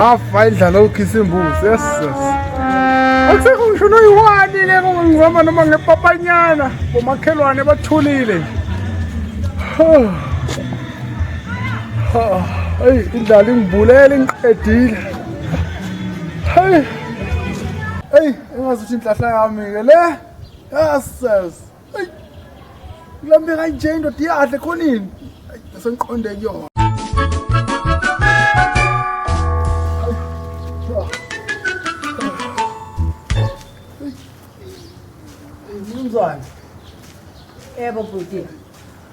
afa idlala ukhisa imbuzi yes yes akusekho ngisho noyiwani le ngihamba noma ngepapanyana bomakhelwane bathulile eyi indlala ingibulele ingiqedile heyi eyi engazuthi inhlahla yami-ke le yes yes Lambe kanje indoda iyadle khonini. Sengiqonde kuyona. Mnumzane. Yebo bhuti.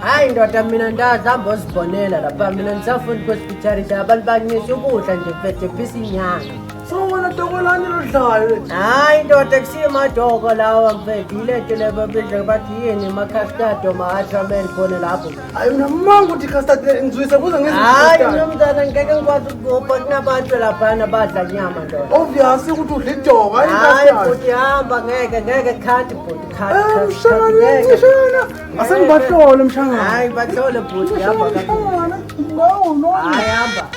Hayi ndoda mina ndazihamba ozibonela lapha mina ndisafundi kwespitality abantu bancisa ukudla nje mfethe phisa inyanga sowona dokolani lodlayo hayi ndoda kusiyimadoko lawa mfethe yilento lebabiza bathi yini macastado ma-atramen khona lapho hayi unamanga ukuthi custard ngizwise kuze hayi nomntana ngeke ngikwazi ukugubha kunabantu laphana badla nyama ndoda obvious ukuthi udla idoko hayi bhuti hamba ngeke ngeke khanti bhuti khanti ngeke Asengibahlole mshangana. Hayi bahlole bhuti hamba ka. No no. Hayi hamba.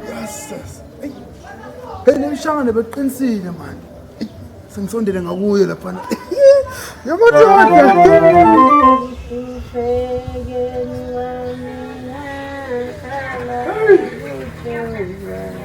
Yes. Hey nemshangane beqinisile manje. Sengisondele ngakuye lapha. Yabona